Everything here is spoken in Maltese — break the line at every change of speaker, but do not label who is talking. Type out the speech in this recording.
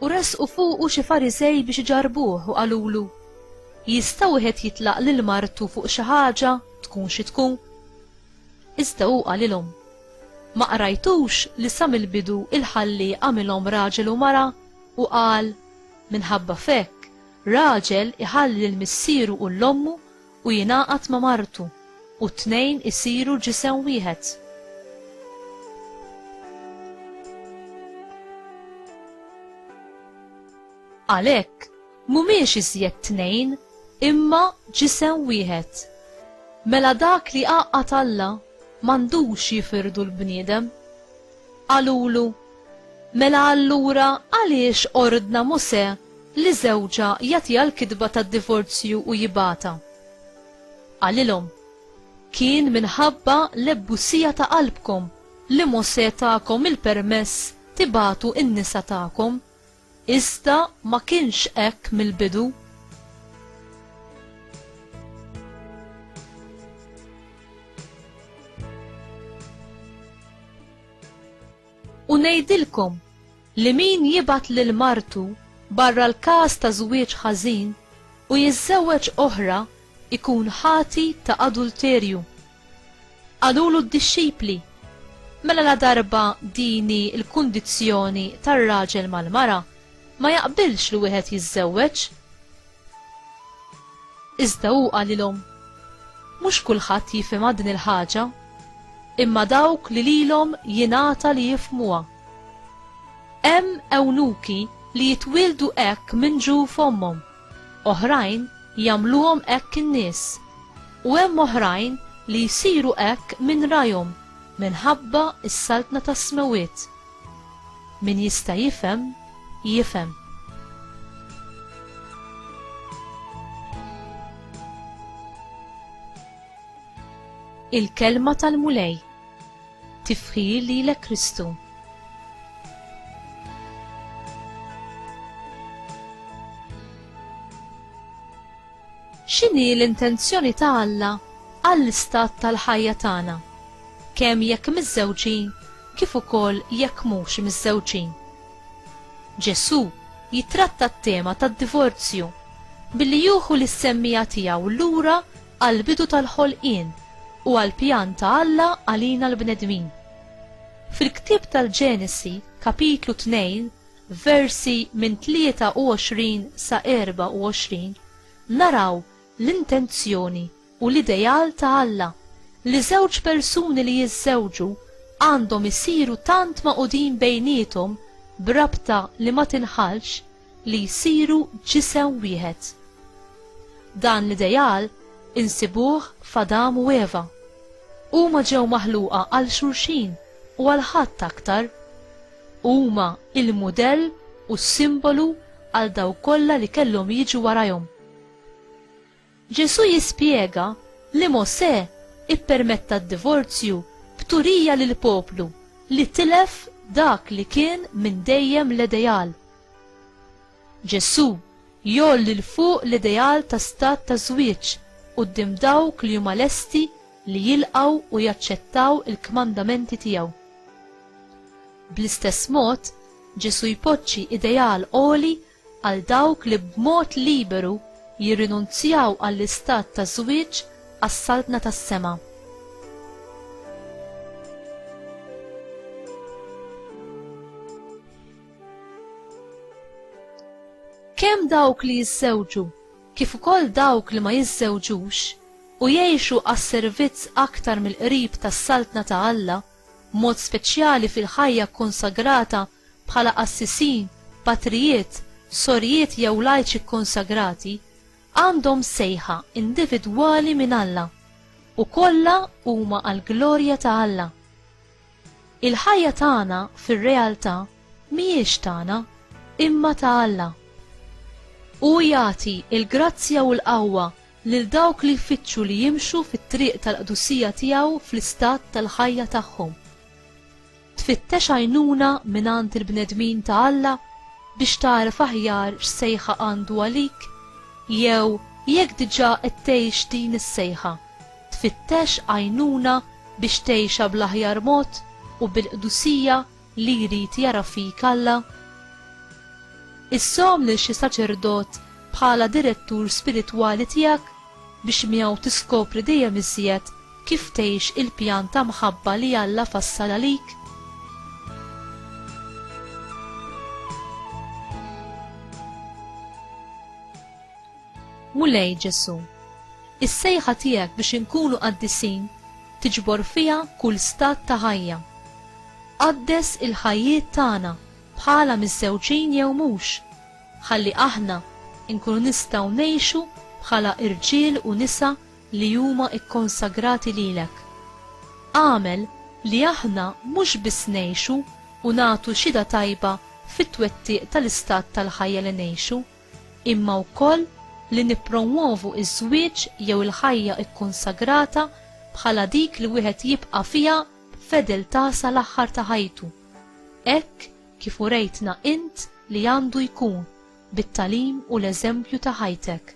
U resqu fuqu xi Farisej biex iġarbuh u qalulu, Jista' wieħed jitlaq lil martu fuq xi ħaġa tkun xi tkun? Iżda hu qalilhom, Ma qrajtux li sa mill-bidu il-Ħallieq għamilhom raġel u mara u qal, Minħabba f'hekk Raġel iħalli lil missieru u lil ommu u jingħaqad ma' martu, u t-tnejn isiru ġisem wieħed. Għalhekk, mhumiex iżjed tnejn, imma ġisem wieħed. Mela dak li jgħaqqad Alla m'għandux jifirdu l-bniedem. Qalulu, Mela allura għaliex ordna Mosè li żewġha jagħtiha l-kitba tad-divorzju u jibgħatha. Qalilhom, Kien minħabba l-ebbusija ta' qalbkom li Mosè takom il-permess tibagħtu n-nisa tagħkom, iżda ma kienx hekk mill-bidu. U ngħidilkom li min jibgħat lil martu barra l-każ ta' żwieġ ħażin u jiżżewweġ oħra jkun ħati ta' adulterju. Qalulu d-dixxipli, Mela ladarba din hi l-kundizzjoni tar-raġel mal-mara, ma jaqbilx li wieħed jiżżewweġ. Iżda hu qalilhom, Mhux kulħadd jifhimha din il-ħaġa, imma dawk li lilhom jingħata li jifhmuha. Hemm ewnuki li jitwieldu hekk minn ġu f'ommhom, oħrajn jagħmluhom hekk in-nies, u hemm oħrajn li jsiru hekk minn rajhom minħabba s-saltna tas-smewwiet. Min jista' jifhem, jifhem. Il-Kelma tal-Mulej Tifħir lilek Kristu. X'inhi l-intenzjoni ta' Alla għall-istat tal-ħajja tagħna, kemm jekk miżżewġin kif ukoll jekk mhux miżżewġin. Ġesù jitratta t-tema tad-divorzju billi juħu lis-semmija tiegħu lura għall-bidu tal-ħolqien u għall-pjan ta' Alla għalina l-bnedmin. Fil-ktieb tal-Ġenesi, Kapitlu 2, versi minn 23 sa 24, naraw l-intenzjoni u l-ideal ta' Alla li żewġ persuni li jiżżewġu għandhom isiru tant magħqudin bejniethom b'rabta li ma tinħallx li jsiru ġisem wieħed. Dan l-ideal insibuh f'Adam u Eva. Huma ġew maħluqa għal xulxin u għal ħadd aktar. Huma il-mudell u s-simbolu għal dawk kollha li kellhom jiġu warajhom. Ġesù jispjega li Mosè ippermetta d-divorzju b'turija lill-poplu li tilef dak li kien minn dejjem l-ideal. Ġesù jgħolli 'l fuq l-ideal ta' stat ta' żwieġ quddiem dawk li huma lesti li jilqgħu u jaċċettaw il-kmandamenti tiegħu. Bl-istess mod, Ġesù jpoġġi ideal għoli għal dawk li b'mod liberu jirrinunzjaw għall-istat ta' żwieġ għas-Saltna tas-Sema. Kemm dawk li jiżżewġu kif ukoll dawk li ma jiżżewġux u jgħixu għas-servizz aktar mill-qrib tas-Saltna ta' Alla, b'mod speċjali fil-ħajja kkonsagrata bħala qassisin, patrijiet, sorijiet jew lajċi kkonsagrati, għandhom sejħa individwali minn Alla, u kollha huma għall-glorja ta' Alla. Il-ħajja tagħna fir-realtà mhijiex tagħna, imma ta' Alla. Hu jagħti l-grazzja u l-qawwa lil dawk li jfittxu li jimxu fit-triq tal-qdusija tiegħu fl-istat tal-ħajja tagħhom. Tfittex għajnuna mingħand il-bnedmin ta' Alla biex tagħraf aħjar x'sejħa għandu għalik? Jew jekk diġà qed tgħix din is-sejħa, tfittex għajnuna biex tgħixha bl-aħjar mod u bil-qdusija li jrid jara fik Alla? Issom lil xi saċerdot bħala direttur spiritwali tiegħek biex miegħu tiskopri dejjem iżjed Kif tgħix il-pjan ta' mħabba li Alla fassal għalik? Mulej Ġesù, is-sejħa tiegħek biex inkunu qaddisin tiġbor fiha kull stat ta' ħajja. Qaddes il-ħajjiet tagħna bħala miżżewġin jew mhux, ħalli aħna nkunu nistgħu ngħixu bħala irġiel u nisa li huma kkonsagrati lilek. Agħmel li aħna mhux biss ngħixu u nagħtu xhieda tajba fit-twettiq tal-istat tal-ħajja li ngħixu, imma wkoll li nippromwovu ż-żwieġ jew il-ħajja kkonsagrata bħala dik li wieħed jibqa' fiha b'fedeltà sal-aħħar ta' ħajtu, hekk kif urejtna int li għandu jkun bit-tagħlim u l-eżempju ta' ħajtek.